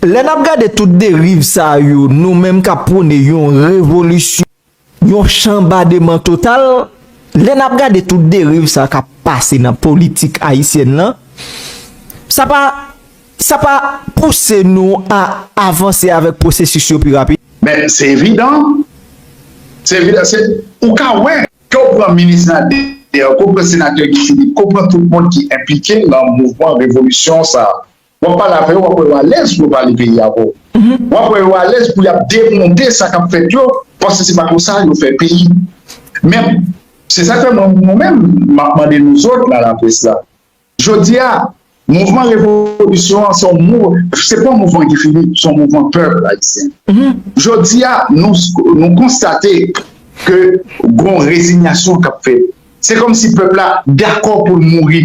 Lè nap gade tout deriv sa yo nou menm kap pwone yon revolisyon, yon chanbademan total, lè nap gade tout deriv sa kap pase nan politik ayisyèn lan, sa pa sa pa pouse nou a avanse avèk pwosesis yo pi rapid? Men se evidan, se evidan se ou ka wè ke ou pran minis la deyò, ke ou pran senatè Guy Philippe, ke ou pran tout moun ki enplike nan mouvman revolisyon sa, Wap pale avè yo wap wè yo alèz pou yo pale peyi avè w. Wap wè yo alèz pou yap demonte sa kap fèt yo paske se pa konsa yo fè peyi. Men, se sak fè mwen mwen menm map mande nou zòt nan laprès la. Jodi a, mouvman revolisyon an se yon mou, se pa yon mouvman Guy Philippe, se yon mouvman pèp ayisyen. Jodi a, nou konstate ke gon rezinyasyon kap fèt. Se kòm si pèp la dakò pou l mouri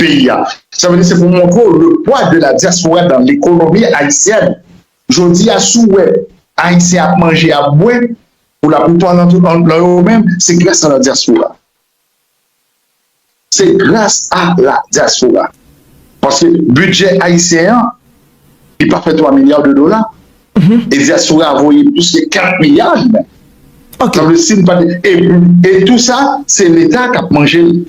peyi a. Sa vle di se pou montre w le pwa de la diaspora dans l'économie haïtienne. Jodi a si w wè Ayisyen ap manje, ap bwè, pou la plupart nan yo menm, se gras a la diaspora. Se gras a la diaspora. Paske bidjè ayisyen an, li pa fè 3 milya de dola e dyaspora a voye plis ke 4 milya jounen e tou sa se leta kap manje l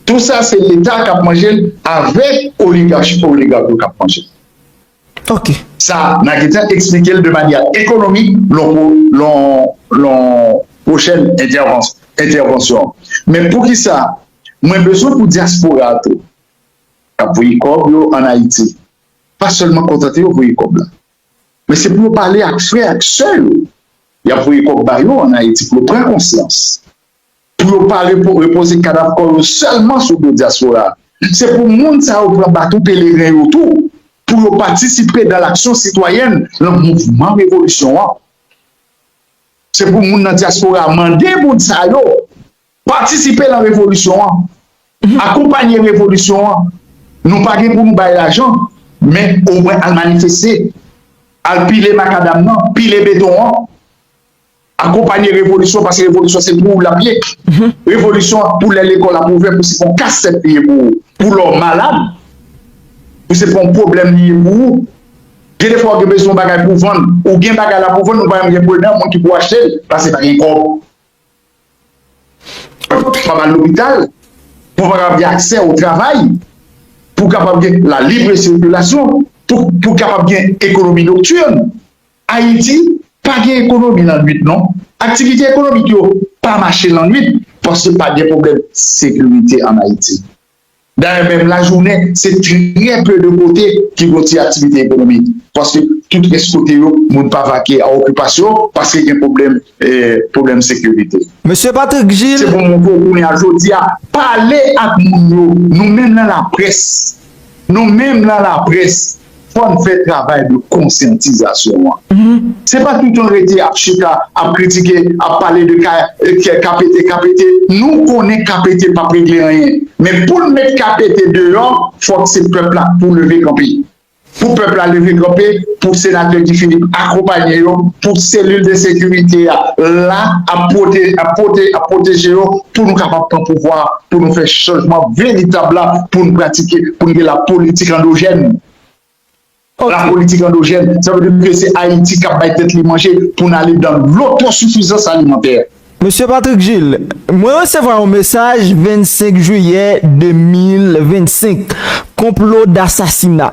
tou sa se leta kap manje l avèk oligachi pou oligachi yo kap manje l sa nan gen tan eksplike l de manya ekonomik lon pwochèn entèvansyon men poukisa mwen bezwen pou dyaspora a tou k ap voye kòb yo an Ayiti pa sèlman kontante yo voye kòb la, men se pou yo pale ak frè ak sè yo y ap voye kòb ba yo an Ayiti pou yo pran konsyans, pou yo pa repoze kadav kò yo sèlman sou do dyaspora a. Se pou moun sa yo pran baton peleren yo tou pou yo patisipe dan laksyon sitwayèn lan mouvman revolisyon an. Se pou moun nan dyaspora mande moun sa yo. Patisipe lan revolisyon an, akonpanye revolisyon an, nou pa gen pou nou bay lajan, men omwen al manifeste, al pile makadam nan, pile beton an, akonpanye revolisyon an, paske revolisyon an se pou ou lap ye, revolisyon an pou lè lekòl ap ouvè pou se pou kasèt li ye pou ou, pou lè w malad, pou se pou pwoblèm li ye pou ou, gen de fwa ou gen bezwen yon bagay pou vann, ou gen bagay la pou vann ou pa menm gen prenè, moun ki pou achte l, paske pa gen kòb. Pou w kapab al lopital, pou w kapab gen aksè o travay, pou w kapab gen la libre circulation, pou w kapab gen ekonomi nocturne. Ayiti pa gen ekonomi lannwit non. Aktivite ekonomik yo pa mache lannwit paske pa gen pwoblèm sekirite an Ayiti. Dayè menm lajounen, se trè pe de kote ki gon ti aktivite ekonomik, paske tout rès kote yo moun pa vake a okipasyon paske gen pwoblèm pwoblèm sekirite. Mesye Patrick Gilles. Se pou mwen montre w kounye a jodi a, pale ak moun yo, nou menm lan laprès, nou menm lan laprès, Fò n fè travay de konsyantizasyon an. Se pa toutan rete ap chita, ap kritike, ap pale de KPT, KPT. Nou konnen KPT p ap regle anyen. Men pou n met KPT deyò, fòk se pèp la pou leve kanpe. Pou pèp la leve kanpe, pou Senatè Guy Philippe akonpanye yo, pou selil de sekirite a la ap pwoteje yo pou nou kapab pran pouvwa a. pou nou fè chanjman veritab la pou n pratike, pou n gen la politik andojèn. La politik andojèn, sa vle di ke se Ayiti k ap bay tèt li manje pou n ale dan lotosifizans alimantè. Mesye Patrick Gilles, mwen resevwa yon mesaj 25 jiyè 2025, konplo dasasina.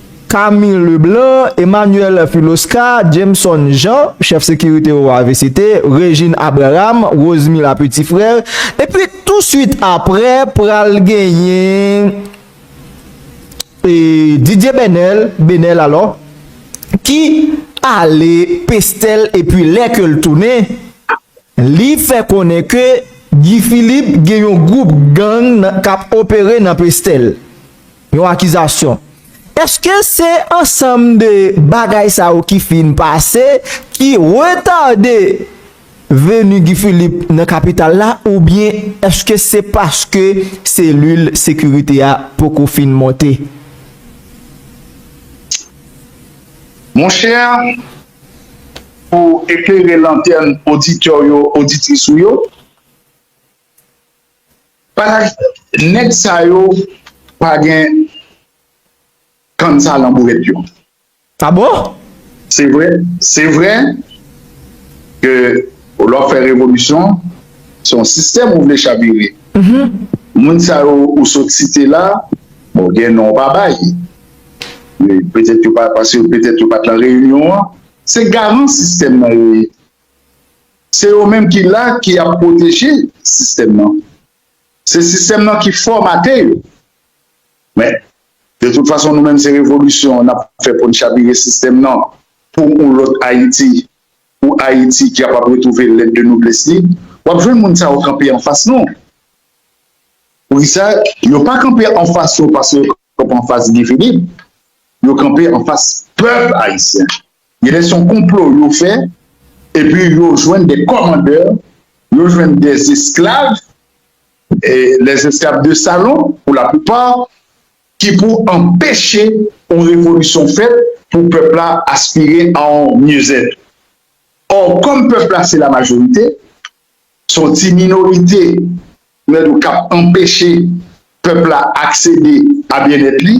Camille Leblanc, Emmanuel Philoscar, Jameson Jean, chèf sekirite OAVCT, Regine Abraham, Rosemila Petit Frère, epi touswit aprè pral genyen Didier Benel, Benel alò, ki ale Pestel epi lè ke l tounen, li fè konnen ke Guy Philippe gen yon gwoup gang k ap opere nan Pestel. Yon akizasyon. Eske se ansanm de bagay sa yo ki fin pase ki retade veni Guy Philippe nan kapital la oubyen eske se paske selil sekirite a poko fin monte? Mon chè, pou eklere lantèn oditè w yo, oditris ou yo, Neg sa yo pa gen kansa lan bouret yo. Ah bon? Se vre, se vre ke lè wap fè revolisyon, se yon sistèm ou vle chavire. Moun sa yo ou sot site la, bon gen non ou pa bay. Petèt yo pa, paske petèt yo pat lan reyinyon an. Se garan sistèm nan yo ye. Se yo menm ki la ki ap pwoteje sistèm nan. Se sistèm nan ki fòmate yo. Men, de tout fason nou menm se revolisyon n ap fè pou n chabire sistèm nan pou yon lòt Ayiti, yon Ayiti ki kapab retwouve lèt de noblès li. W ap jwenn moun sa yo kanpe anfas nou. Poukisa? Yo pa kanpe anfas yo paske yo kanpe anfas Guy Philippe. Yo kanpe anfas pèp ayisyen. Genlè son konplo yo fè epi yo jwenn de kòmandè, yo jwenn de esklav, les esclaves de salon pour la plupart, ki pou anpeche yon revolisyon fèt pou pèp la aspire a yon mieux-être. Or kòm pèp la se la majorite, son ti minorite nan yo kap anpeche pèp la aksede a byennèt li.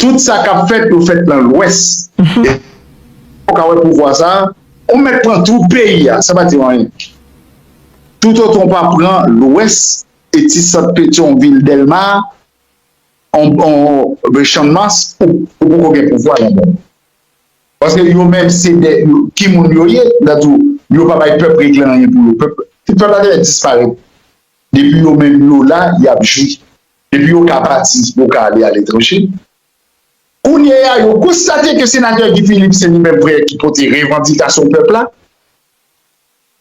Tout sa kap fèt yo fèt nan lwès epi ou ka wè pouvwa sa ou mèt pran tout peyi a sa pa diw anyen tout otan ou pa pran lwès e ti sant petyon vil dèlma anbn channmas ou poko gen pouvwa la danm paske yo menm se de ki moun yo ye la diw yo pa bay pèp regle anyen pou yo pèp la te disparèt depi yo menm yo la yap jwi. Epi yo ka pati, yo ka ale aletranje. Kounye a, yo konstate ke Senatè Guy Philippe se li menm vrè ki pote revandikasyon pèp la.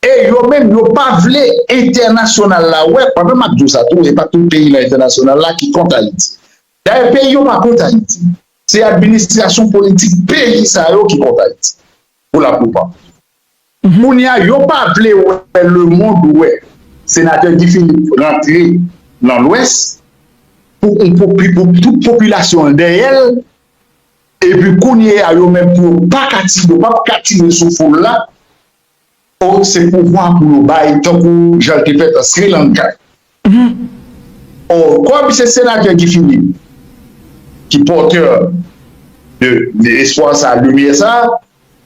E yo menm, yo pa vle entènasyonal la wè, pandan m ap di w sa tou, e pa tout peyi nan entènasyonal la ki kont Ayiti. Dayè, peyi yo pa kont Ayiti. Se administrasyon politik peyi sa yo ki kont Ayiti, pou laplipa. Kounya yo pa vle wè lemond wè Senatè Guy Philippe rantre nan lwès pou on popi pou tout popilasyon l dèyè l epi kounye a yo menm pou yo pa ka ti yo pap ka tire sou foul la oh se pouvwa pou yo bay tankou jan l te fèt an Sri Lanka. Humm oh kòm se senatè Guy Philippe ki porteur de espoir sa lumière sa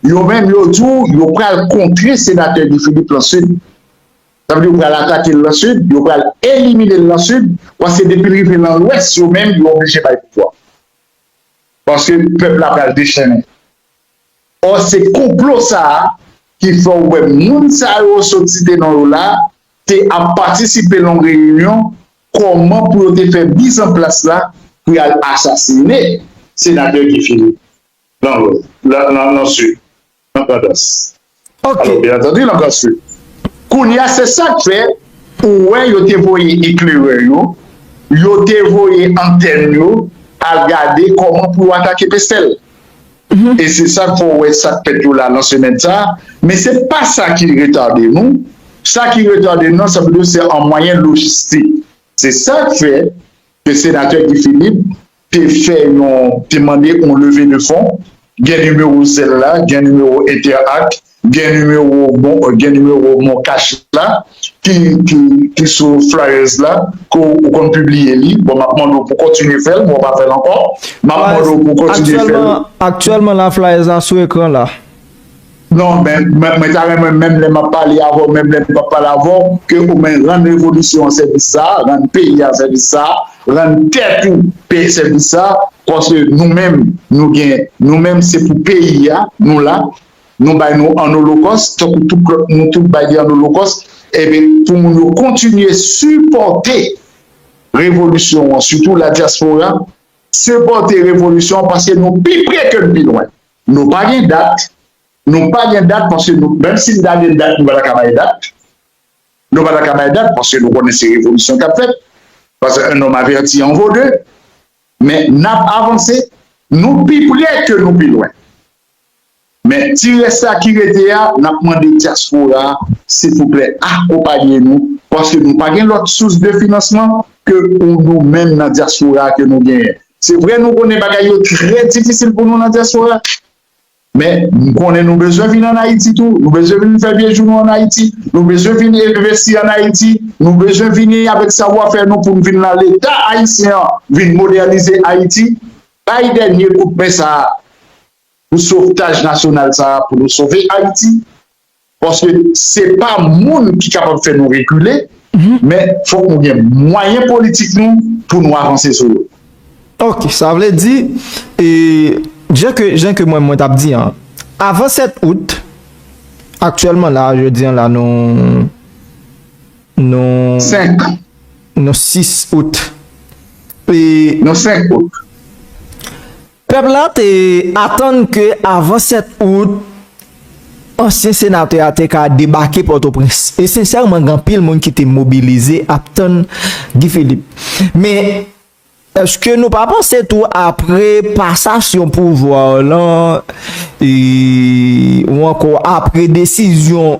yo menm yo di w yo pral kontre senatè Guy Philippe lan sud sa vle di yo pral atake l lan sud yo pral elimine l lan sud paske depi l rive lan lwès yo menm yo oblije bay pouvwa paske pèp la pral dechennen. Or se konplo sa a ki fè w wè moun sa yo w soti te non yo la a te ap patisipe lan w reyinyon kòman pou yo te fè miz an plas la pou y al asasine Senatè Guy Philippe lan Lwès, lan Sud, lan Grandans. Alò, byen antandi, n ap pral swiv. Kounye a, se sa k fè ou wè yo te voye eklerè yo, yo te voye antèn yo al gade kòman pou yo atake Pestèl. E se sa k fè w wè sa k fèt yo la nan semèn sa a. Men se pa sa ki retade nou. Sa ki retade nou an, sa vle di se an mwayen lojistik. Se sa k fè ke Senatè Guy Philippe, te fè yon te mande yon leve de fon gen nimewo zèl la gen nimewo entèak gen nimewo bon gen nimewo mon kach la ki ki ki sou flyers la ke ou konn pibliye li bon map mande w pou kontinye fèl bon ou pa fèl ankò map mande w pou kontinye fèl. Aktyèlman la flyers la sou ekran la. Non men mwen ta renmen menm lè map pale avèw menm lè m pap pale avèw ke ou men rann revolisyon an sèvis sa a, rann peyi a sèvis sa a, rann tèt ou pè sèvis sa a paske nou menm nou gen nou menm se pou peyi a nou la nou bay nou an olokòs tankou tout lòt nou tout bay li an olokòs enbe pou moun yo kontinye sipòte revolisyon an sitou ladyaspora sipòte revolisyon an paske nou pi pre ke n pi lwen. Nou pa gen dat, nou pa gen dat paske nou, menm si nou ta gen dat nou pa ta ka bay dat, nou pa ta ka bay dat paske nou konnen se revolisyon k ap fèt, paske un homme averti en vaut deux, men n ap avanse, nou pi pre ke nou pi lwen. Men ti rès sa ki rete a, n ap mande dyaspora a silvouplè akonpanye nou paske nou pa gen lòt sous de finansman ke ou nou menm nan dyaspora a ke nou genyen. Se vre nou konnen bagay yo trè difisil pou nou nan dyaspora, men nou konnen nou bezwen vin an Ayiti tou, nou bezwen vin fè vye jou nou an Ayiti, nou bezwen vin envesti an Ayiti, nou bezwen vini avèk savwafè nou pou nou vin nan Leta ayisyen an vin modènize Ayiti. Bay dènye kout men sa a pou sovtaj nasyonal sa a pou nou sove Ayiti. Paske se pa moun ki kapab fè nou rekile, men fòk nou gen mwayen politik nou pou nou avanse sou yo. Ok, sa vle di, jan ke mwen t ap di an, avan 7 out, aktyèlman la, jodi an la nou, nou, 5. Nou 6 out. Nou 5 out. Pèp la te atann ke avan 7 out, ansyen senatè a te ka debake Pòtoprens. E sensèman gen anpil moun ki te mobilize ap tann Guy Philippe. Men, èske nou pa panse tou apre pasasyon pouvwa w lan, ou ankò apre desizyon,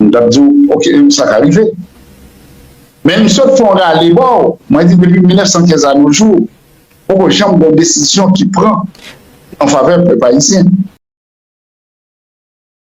M tap diw ok sa ka rive. Men m sot fè yon rale baw, mwen di depi 1915 a no jou poko janm gen yon desizyon ki pran an favè pèp ayisyen.